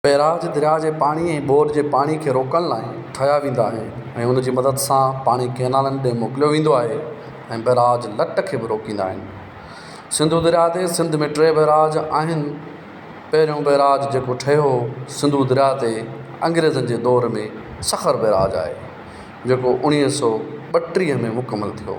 پيراج درياء جي پاڻي ۽ ٻوڏ جي پاڻي کي روڪڻ لاء ٺاهيا ويندا آهن ۽ ان جي مدد سان پاڻي ڪئنالن ڏي موڪليو ويندو آهي ۽ بئراج لٽ کي به روڪيندا آهن. سنڌو درياء تي سنڌ ۾ ٽي بئراج آهن. پهريون بئراج جيڪو ٺهيو سنڌو درياء تي انگريزن جي دور ۾ سکر بئراج آهي جيڪو اوڻيهه سؤ ٻٽيهه ۾ مڪمل ٿيو.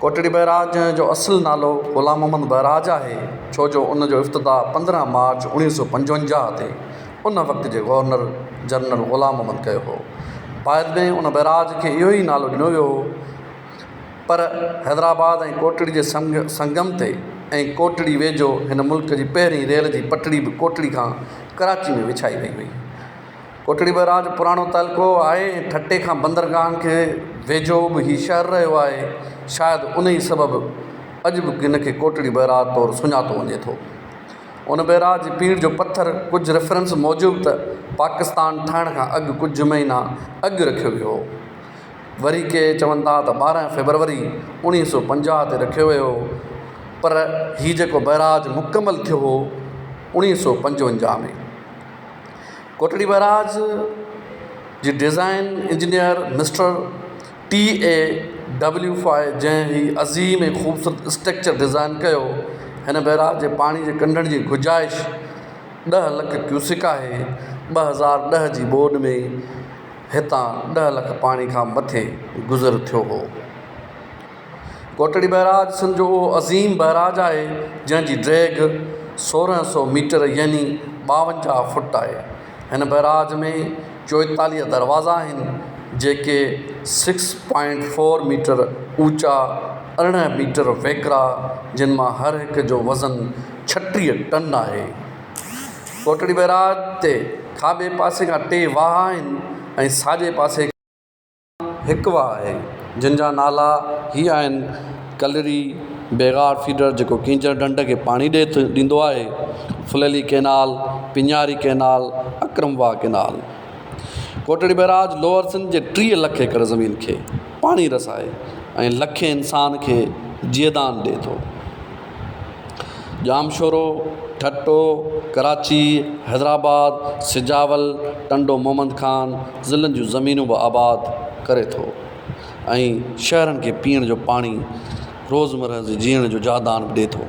ڪوٽڙي بئراج جو اصل نالو غلام محمد بئراج آهي، ڇو جو ان جو افتتاح پندرهن مارچ اوڻيهه سؤ پنجونجاهه تي ان وقت جي گورنر جنرل غلام محمد ڪيو هو. بعد ۾ ان بئراج کي اهو ئي نالو ڏنو ويو هو پر حيدرآباد ۽ ڪوٽڙي جي سنگم تي ۽ ڪوٽڙي ويجهو هن ملڪ جي پهرين ريل جي پٽڙي به ڪوٽڙي کان ڪراچي ۾ وڇائي وئي هئي. ڪوٽڙي بئراج پراڻو تعلقو آهي ۽ ٺٽي کان بندرگاهن کي ويجهو به هي شهر رهيو آهي شايد ان ئي سبب اڄ به هن کي ڪوٽڙي بئراج طور سڃاتو وڃي ٿو ان بئراج جي پيڙهه جو پٿر ڪجهه ريفرنس موجب ته پاڪستان ٺهڻ کان اڳ ڪجهه مهينا اڳ رکيو ويو هو وري ڪي چون ٿا ته ٻارهن فيبروري اوڻيهه سو پنجاهه تي رکيو ويو هو پر هي جيڪو بئراج مڪمل ٿيو هو اوڻيهه سو پنجونجاهه ۾ ڪوٽڙي بئراج جي design engineer mister T A W فاء جنهن هي عظيم ۽ خوبصورت اسٽرڪچر ڊيزائن ڪيو هن بئراج جي پاڻي جي ڪنڊن جي گجائش ڏهه لک ڪيوسڪ آهي ٻه هزار ڏهه جي ٻوڏ ۾ هتان ڏهه لک پاڻي کان مٿي گذر ٿيو هو ڪوٽڙي بئراج سنڌ جو اهو عظيم بئراج آهي جنهن جي ڊيگهه سورهن سو ميٽر يعني ٻاونجاهه فوٽ آهي. هن بئراج ۾ چوئيتاليهه دروازا آهن جيڪي سڪس پوائنٽ فور ميٽر اوچا ارڙهن ميٽر ويڪرا جن مان هر هڪ جو وزن ڇٽيهه ٽن آهي. ڪوٽڙي بئراج تي کاٻي پاسي کان ٽي واهه آهن ۽ ساڄي پاسي کان. هڪ واهه آهي جن جا نالا هي آهن ڪلري بيغار فيڊر جيڪو ڪينجهر ڍنڍ کي پاڻي ڏي ٿو ڏيندو آهي Phuleli canal Pinjari canal Akram Wah canal Kotri barrage lower Sindh جي ٽيهه لک ايڪڙ زمين کي پاڻي رسائي ۽ لکين انسان کي جيئدان ڏي ٿو ڄامشورو، ٺٽو، ڪراچي، حيدرآباد، سجاول، ٽنڊو محمد خان ضلعن جون زمينون به آباد ڪري ٿو ۽ شهرن کي پيئڻ جو پاڻي روزمره جي جيئڻ جو جادان به ڏي ٿو.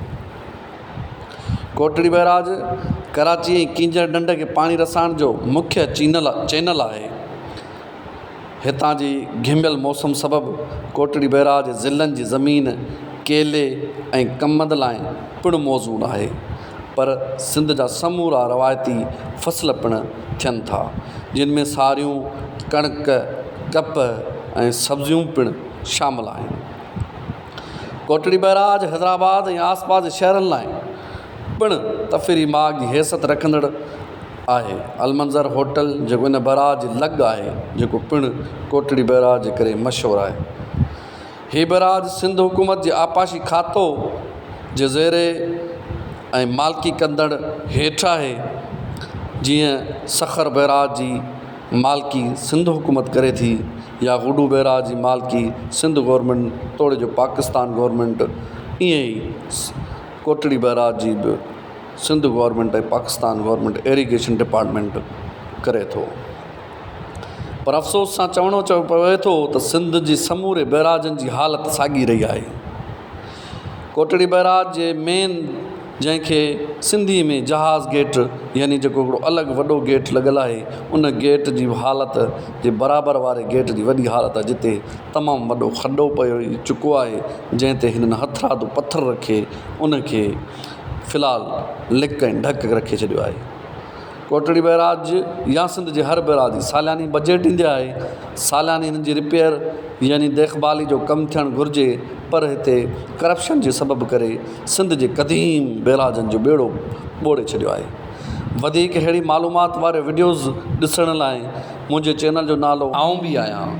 ڪوٽڙي بئراج ڪراچي ۽ ڪينجهر ڍنڍ کي پاڻي رسائڻ جو مکيه چينل چينل آهي. هتان جي گهميل موسم سبب ڪوٽڙي بئراج ضلعن جي زمين ڪيلي ۽ ڪمند لاء پڻ موزون آهي پر سنڌ جا سمورا روايتي فصل پڻ ٿين ٿا جن ۾ ساريون ڪڻڪ ڪپهه ۽ سبزيون پڻ شامل آهن ڪوٽڙي بئراج حيدرآباد ۽ آس پاس جي شهرن لاء پڻ تفري ماڳ جي حيثت رکندڙ آهي. المنظر هوٽل جيڪو ان بئراج جي لڳ آهي جيڪو پڻ ڪوٽڙي بئراج جي ڪري مشهور آهي. هي بئراج سنڌ حڪومت جي آبپاشي کاتو جي زيري ۽ مالڪي ڪندڙ هيٺ آهي. جيئن سکر بئراج جي مالڪي سنڌ حڪومت ڪري ٿي يا گڊو بئراج جي مالڪي سنڌ گورنمينٽ توڙي جو پاڪستان گورنمينٽ ايئن ئي ڪوٽڙي بئراج جي به Sindh government ۽ Pakistan government irrigation department ڪري ٿو پر افسوس سان چوڻو چو پوي ٿو ته سنڌ جي سموري بئراجن جي حالت ساڳي رهي آهي ڪوٽڙي بئراج جي مين جنهن کي سنڌي ۾ جهاز گيٽ يعني جيڪو هڪڙو الڳ وڏو گيٽ لڳل آهي ان گيٽ جي حالت جي برابر واري گيٽ جي وڏي حالت آهي جتي تمام وڏو کڏو پئي چڪو آهي جنهن تي هنن هٿرادو پٿر رکي ان کي فلحال لڪ ۽ ڍڪ رکي ڇڏيو آهي ڪوٽڙي بئراج يا سنڌ جي هر بئراج جي سالياني بجيٽ ڏيندي آهي سالياني هن جي رپيئر يعني ديکڀالي جو ڪم ٿيڻ گهرجي پر هتي ڪرپشن جي سبب ڪري سنڌ جي قديم بئراجن جو ٻيڙو ٻوڙي ڇڏيو آهي وڌيڪ ههڙي معلومات واريو وڊيوز ڏسڻ لاء منهنجي چينل جو نالو آئون به آهيان